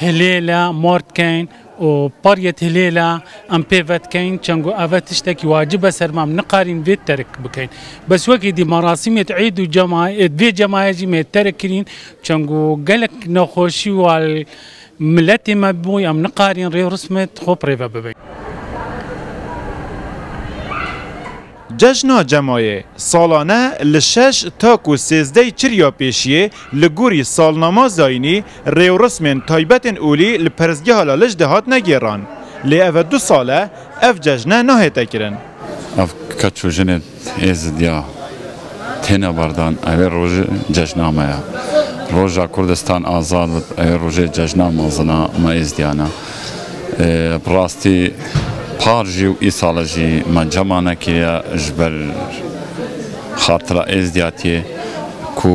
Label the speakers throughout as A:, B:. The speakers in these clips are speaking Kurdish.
A: Hilêla mar dikeyn û pariyê hilêla em pê ve dikeyn çend ku ev e tiştekî wacib e ser me em nikarîn vê terk bikeyn. Bes wekî dî merasîmê di êd û cema êd vê cemaya jî mê terk kirîn çend ku gelek nexweşî û al miletê me bûy em nikarîn rê rûsmê xwe pirêve bibin.
B: Cejna Cemayê salane li şeş ta ku sêzdey çirya pêşiyê li gorî salnama zayînî rêwrismên taybetên olî li Perestgeha Laliş de hatine gêran. Lê ev e du sal e ev cejne nahête kirin. Ev keç
C: û jinên Êzidiya têne berdan ew ê roj cejna me ye. Roja Kurdistan Azad bû ew ê rojê cejna mezin a me Êzidiyan e. Bi rastî par jî û îsal jî me cema nekiriye ji ber xartira êzdiyatiyê ku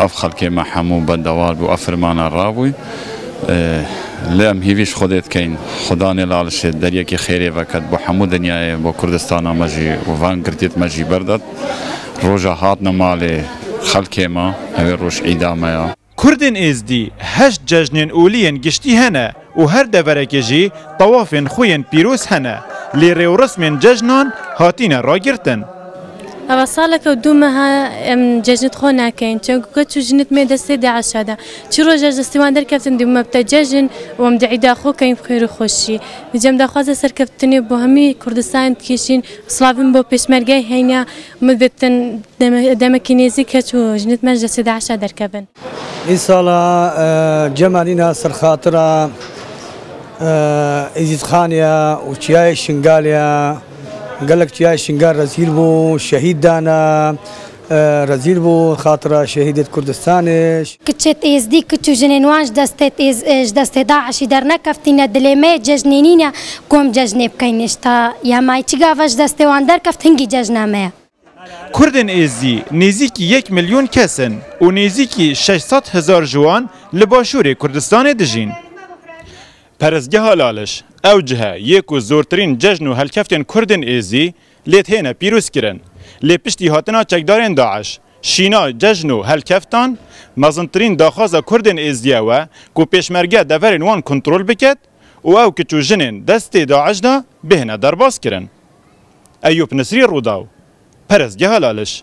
C: ev xelkê me hemû bendewar bû ev firmana rabûy. Lê em hîvî ji Xwedê dikeyn Xweda nêlalişê deriyekî xêrê veket bo hemû dinyayê bo Kurdistana me jî û van girtiyê me jî berdet. Roja hatine malê xelkê me ev ê roj îda me ya. Kurdên Êzdî
B: heşt cejnên olî yên giştî hene û her deverekê jî tawafên xwe yên pîroz hene lê rêwresmên cejnan hatine ragirtin. Ava
D: salek e du meha em cejnê di xwe nekin çemku keç û jinê di mê destê DAIŞ'a de. Çi roja ji destê wan derkevtin dê me bite cejn û em di îda xwe kein xêr û xweşî. Ji cem daxwazê serkeftinê bo hemî Kurdistanê dikêşîn û silavên bo pêşmergeyê heyne Min gotin demekî nêzîk keç û jinit me ji destê DAIŞ'a derkevin. Îsala
E: cemanîna serxatira Êzîdxanê ya û çiyayê Şingalê ya. Gelek çiyayê Şingal rezîl bû, şehîd dana. Rezîl bû xatira şehîdê di Kurdistanê. Kçet Êzdî,
F: kç û jinên wan ji destê DAIŞ'î dernekeftîne. Dilê me yê cejnê nîne ku em cejnê bikin. Hêşta Yamayî çi gava ji destê wan derkeft hingî cejna me ye. Kurdên
B: Êzdî nêzîkî yek milyon kes in û nêzîkî şeş sed hezar ji wan li Başûrê Kurdistanê dijîn. Perestgeha Laliş, ew cihe yê ku zortirîn cejn û helkeftên Kurdên Êzdî lê têne pîrozkirin. Lê piştî hatina çekdarên DAIŞ Şîna cejn û helkeftan, mezintirîn daxwaza Kurdên Êzidiya we ku pêşmergeya deverên wan kontrol biket û ew kiç û jinên destê DAIŞ de bihêne derbas kirin. Eyûp Nisrî Rûdaw, Parêzgeha Laliş.